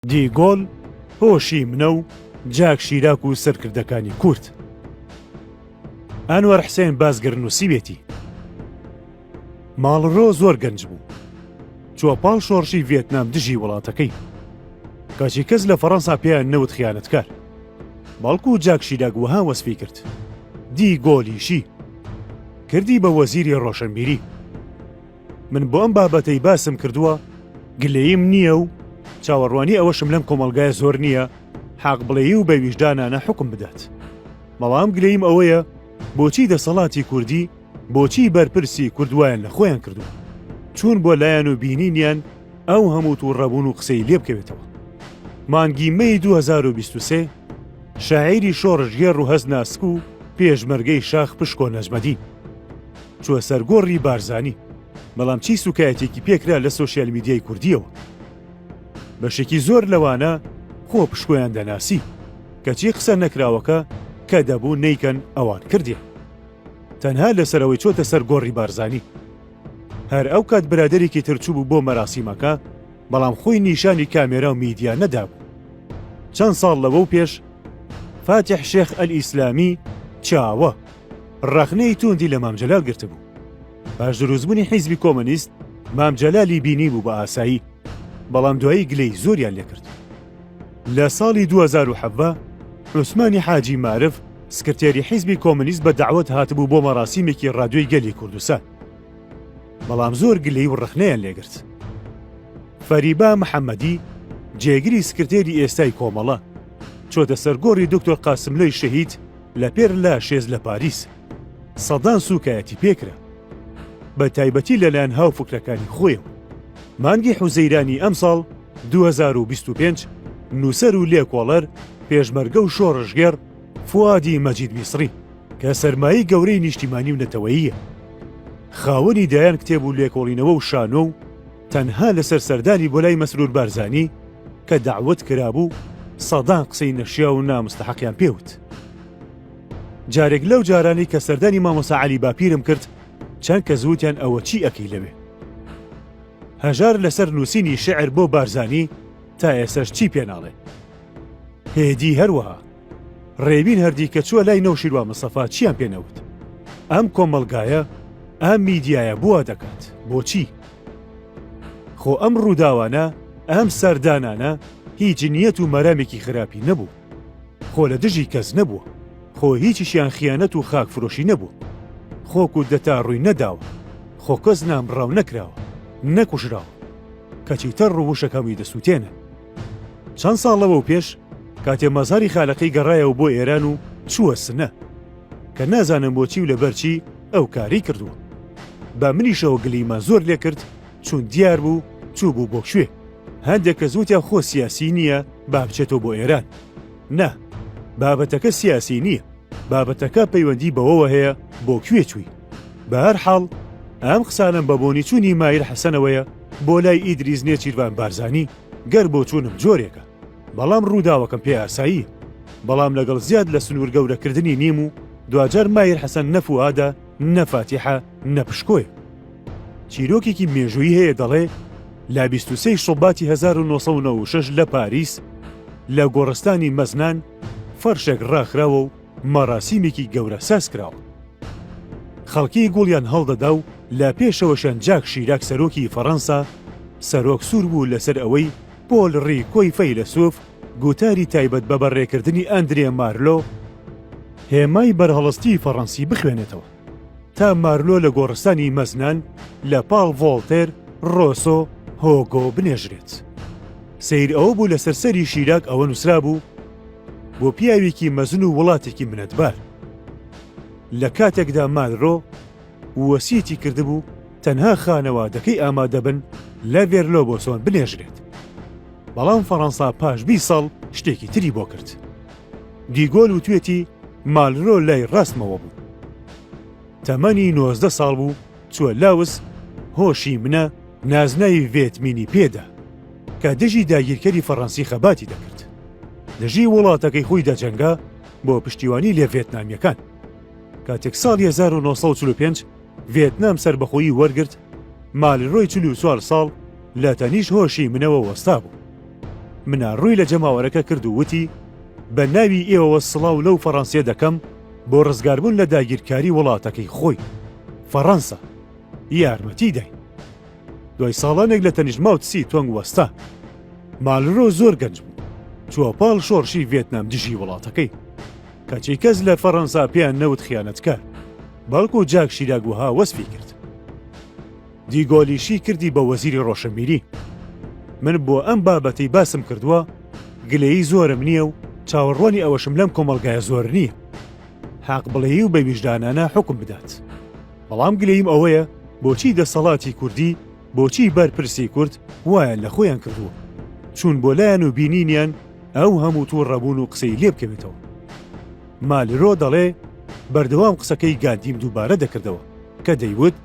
دی گۆل هۆشی منە و جاک شیراک و سەرکردەکانی کورد ئەنوەر حسێن بازگر نووسیوێتی ماڵرۆ زۆر گەنج بوو چوە پاڵ شۆڕشی ڤێتنام دژی وڵاتەکەی کەچی کەس لە فەڕەنسا پێیان نەوت خیانەتکار بەڵکو و جاک شیراک وەها وەسفی کرد دی گۆلیشی کردی بە وەزیری ڕۆشنبیری من بۆ ئەم بابەتەی باسم کردووە گلەییم نییە و چاوەڕوانی ئەوەشم لەم کۆمەڵگای زۆر نییە حاق بڵێی و بە ویژدانانە حکم بدات بەڵام گلەییم ئەوەیە بۆچی دەسەڵاتی کوردی بۆچی بەرپرسی کوردوایان لە خۆیان کردووە چوون بۆ لایەن و بینینیان ئەو هەموو و ڕەبوون و قسەی لێ بکەوێتەوە مانگی مەی 2023 شاعیری شۆڕژگێڕ و هەست ناسک و پێشمەرگەی شاخ پشکۆ نەجمەدین چووە سەر گۆڕی بارزانی، بەڵام چی سووکایەتێکی پێکرا لە سۆشیال میدیای کوردییەوە؟ بەشێکی زۆر لەوانە خۆ پشکۆیان دەناسی، کەچی قسە نەکراوەکە کە دەبوو نەیکەن ئەوان کردیان. تەنها لەسەر ئەوەی چۆتە سەر گۆڕی بارزانی. هەر ئەو کات برادەرێکی تر چووبوو بۆ مەراسیمەکە، بەڵام خۆی نیشانی کامێرا و میدیا نەدابوو. چەند ساڵ لەوەو پێش فاتیح شێخ ئەلئیسلامی چاوە. ڕەخنەی تووندی لە مام جەلال گرتبوو. پاش دروستبوونی حیزبی کۆمۆنیست مام جەلالی بینیبوو بە ئاسایی، بەڵام دوایی گلەی زۆریان لێ کرد. لە ساڵی دوو هەزار و حەڤدە عوسمانی حاجی مارف سکرتێری حیزبی کۆمۆنیست بە دەعوەت هاتبوو بۆ مەراسیمێکی ڕادیۆی گەلی کوردستان، بەڵام زۆر گلەی و ڕەخنەیان لێ گرت. فەریبا محەممەدی جێگری سکرتێری ئێستای کۆمەڵە، چۆتە سەر گۆڕی دوکتۆر قاسملۆی شەهید، لە پێر لا شێز لە پاریس سەدان سووکایەتی پێ کرا، بە تایبەتی لە لایەن هاوفکرەکانی خۆیەوە. مانگی حوزەیرانی ئەمساڵ دوو هەزار و بیست و پێنج نووسەر و لێکۆڵەر، پێشمەرگە و شۆڕشگێڕ فوادی مەجید میسڕی کە سەرمایەی گەورەی نیشتیمانی و نەتەوەییە، خاوەنی دەیان کتێب و لێکۆڵینەوە و شانۆ و، تەنها لەسەر سەردانی بۆ لای مەسرور بارزانی کە دەعوەت کرابوو سەدان قسەی نەشیاو و نامستەحەقیان پێ وت. جارێک لەو جارانەی کە سەردانی مامۆسا عەلی باپیرم کرد چەند کەس وتیان ئەوە چی ئەکەی لەوێ؟ هەژار لەسەر نووسینی شیعر بۆ بارزانی تا ئێسەش چی پێ ناڵێ. هێدی هەروەها. ڕێوین هەردیکە چووە لای نەوشیروان مستەفا چیان پێ نەوت ئەم کۆمەڵگایە ئەم میدیایە بووە دەکات بۆچی خۆ ئەم ڕووداوانە ئەم سەردانانە هیچ جنیەت و مەرامێکی خراپی نەبوو خۆ لە دژی کەس نەبووە خۆ هیچیشیان خیانەت و خاک فرۆشی نەبوو خۆک و دەتا ڕووی نەداوە خۆ کەس نامڕاو نەکراوە نەکوژراوە کەچی تەڕ ڕووشەکەمی دەسووتێنن چەند ساڵ لەوەو پێش کاتێ مەزاری خالەقی گەڕایەوە بۆ ئێران و چووە سنە کە نازانم بۆچی و لەبەرچی ئەو کاری کردووە بە منیشەوە گلیمە زۆر لێ کرد چون دیار بوو چوو بوو بۆ کوێ هەندێک کە زووتیا خۆ سیاسی نییە با بچێتەوە بۆ ئێران نا بابەتەکە سیاسی نییە بابەتەکە پەیوەندی بەوەوە هەیە بۆ کوێ چووی بەهەر حاڵ ئەم قسانەم بە بۆنی چوونی مایر حەسەنەوەیە بۆ لای ئیدریز نێچیرڤان بارزانی گەر بۆ چوونم جۆرێکە بەڵام ڕووداوەکەم پێ ئاسایی بەڵام لەگەڵ زیاد لە سنوور گەورەکردنی نیم و دواجار مایر حەسەن نەفوادە نەفاتیحە نەپشکۆی چیرۆکێکی مێژووی هەیە دەڵێ لە 23 شوباتی 1996 لە پاریس لە گۆڕستانی مەزنان فەرشێک ڕاخراوە و مەراسیمێکی گەورە سازکراوە. خەڵکی گوڵیان هەڵدەدا و لە پێشەوەشیان جاک شیراک سەرۆکی فەرەنسا سەرۆک سوور بوو لەسەر ئەوەی پۆل ڕیکۆی فەیلەسووف گوتاری تایبەت بە بەڕێکردنی ئاندرێ مارلۆ، هێمای بەرهەڵستی فەرەنسی بخوێنێتەوە، تا مارلۆ لە گۆڕستانی مەزنان لە پاڵ ڤۆڵتێر، ڕۆسۆ، هۆگۆ بنێژرێت. سەیر ئەوە بوو لەسەر سەری شیراک ئەوە نووسرابوو. بۆ پیاوێکی مەزن و وڵاتێکی منەتبار. لە کاتێکدا مانرۆ وەسیەتی کردبوو تەنها خانەوادەکەی ئامادەبن لە ڤێرلۆ بۆسۆن بنێژرێت. بەڵام فەڕەنسا پاش بی ساڵ شتێکی تری بۆ کرد. دیگۆل وتوێتی مالرۆ لای ڕاستمەوە بوو. تەمەنی نۆزدە ساڵ بوو چوە لاوس هۆ شی منە نازناوی ڤێت مینی پێدا کە دژی داگیرکەری فەڕەنسی خەباتی دەکرد دژی وڵاتەکەی خۆی دەجەنگا بۆ پشتیوانی لێ ڤێتنامیەکان کاتێک ساڵ 1945 ڤێتنام سربەخۆیی وەرگرت مالرۆی چلو چوار ساڵ لە تەنیش هۆشی منەوە وەستا بوو منە ڕووی لە جەماوەرەکە کرد و وتی بە ناوی ئێوەوە سڵاو لەو فەڕەنسیە دەکەم بۆ ڕزگاربوون لە داگیرکاری وڵاتەکەی خۆی، فەڕەنسا، یارمەتی داین. دوای ساڵانێک لە تەنیشت ماو تسی تۆنگ وەستا. مالرۆ زۆر گەنج بوو، چووە پاڵ شۆڕشی ڤێتنام دژی وڵاتەکەی. کەچی کەس لە فەڕەنسا پێیان نەوت خیانەتکار، بەڵکو جاک شیراک وەها وەسفی کرد. دیگۆلیشی کردی بە وەزیری ڕۆشنبیری. من بۆ ئەم بابەتەی باسم کردووە گلەیی زۆرم نییە و چاوەڕوانی ئەوەشم لەم کۆمەڵگایە زۆر نییە حاق بڵێی و بە ویژدانانە حوکم بدات. بەڵام گلەییم ئەوەیە بۆچی دەسەڵاتی کوردی، بۆچی بەرپرسی کورد وایان لە خۆیان کردووە. چوون بۆ لایان و بینینیان ئەو هەموو تووڕەبوون و قسەی لێ بکەوێتەوە. مالرۆ دەڵێ، بەردەوام قسەکەی گاندیم دووبارە دەکردەوە کە دەیوت،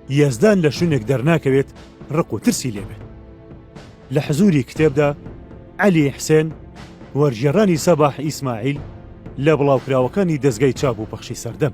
یەزدان لە شوێنێک دەرناکەوێت ڕق و ترسی لێبێت لە حزوری کتێبدا علی حسێن وەرژێڕانی سەباح ئیسماعیل لە بڵاوکراوەکانی دەستگای چاپ و پەخشی سەردەم.